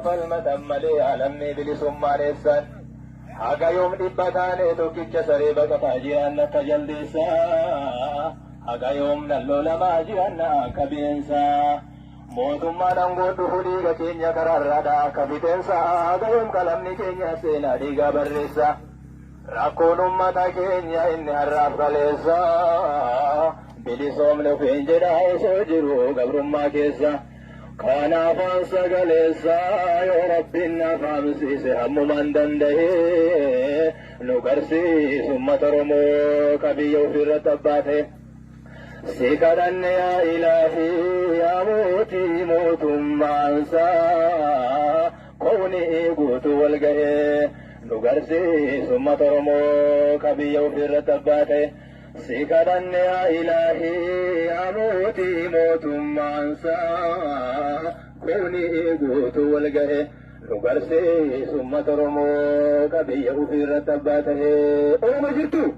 falmatan malee alamni bilisummaa dheessan haga yoom dhibba taane tokkicha saree baqataa jiran akka jaldeessa haga yoom nan lolamaa jiran akka bineensa mootummaan aangoo dhufu dhiiga keenya karaarraadha akka fixeensa haga yoom qalamni keenya seenaa dhiigaa barreessa. Rakkoon ummata keenya inni har'aaf kaleessa bilisoomne ofiin jedhaa osoo jiru gabrummaa keessa kana afaan sagaleessa yoo rabbiin naaf haamsiise hammumaan danda'e nu garsiisu ummata Oromoo ka biyya ofiirratti abbaate. Si kadhanne yaa ilaahi yaa mootii mootummaansaa. Kuni guutuu wal gahee nu garsiisu ummata Oromoo ka biyya ofii irratti abbaa ta'e. Si kadhanne yaa Ilaahii yaa mootii mootummaan saa. Kuni guutuu wal gahee nu garsiisu ummata Oromoo ka biyya ofii irratti abbaa ta'e. Oromoo jirtuu?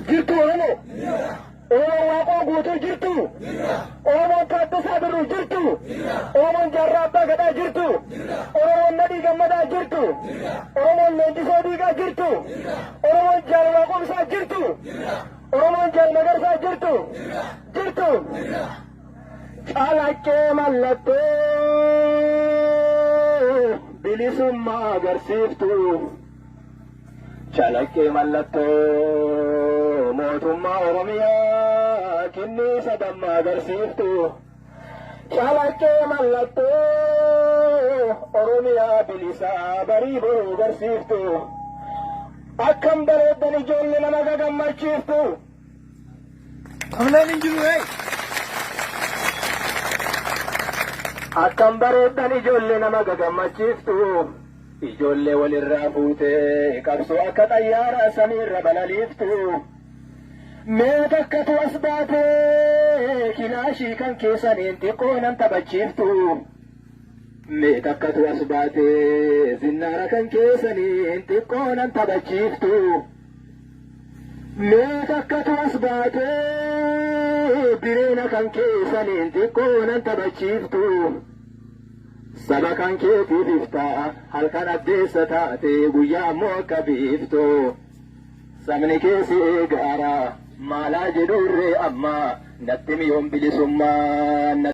Jirtuu Oromoo? Oromoon Waaqoo guutuu jirtu? Jirra. Oromoon Taaddasaa Birruu jirtu? Jirra. Oromoon Jaarraa Abbaa Gadaa jirtu? Jirra. Oromoon Nadhii Gammadaa jirtu? Jirra. Oromoon Leenjisoo Diigaa jirtu? Jirra. Oromoon Jaal Waaqomsaa jirtu? Jirra. Oromoon Jaal Magarsaa jirtu? Jirra. Jirtu? Jirra. Calaqqee mallattoo bilisummaa agarsiiftu. Calaqqee mallattoo mootummaa Oromiyaa kinniisa dammaa agarsiiftu. Calaqqee mallattoo Oromiyaa bilisaa barii boruu agarsiiftu. Akkam bareeddan ijoollee nama gagammachiiftu. Amleen hin jiru ee. Akkam bareeddan ijoollee nama gagammachiiftu. Ijoollee wal irraa fuutee qabsoo akka xayyaaraa samiirra balaliiftu mee takkatu as baatee kilaashii kan keessaniin xiqqoo nan taphachiiftu mee takkatu as baatee zinnaara kan keessaniin xiqqoo nan taphachiiftu mee takkatu as baatee bireena kan keessaniin xiqqoo nan taphachiiftu. Saba kan keetiif iftaa, halkan addeessa taatee, guyyaa ammoo akka biiftuu. Sabni kee si eegaara, maalaa jedhuurree amma, natti himi yoom bilisummaa.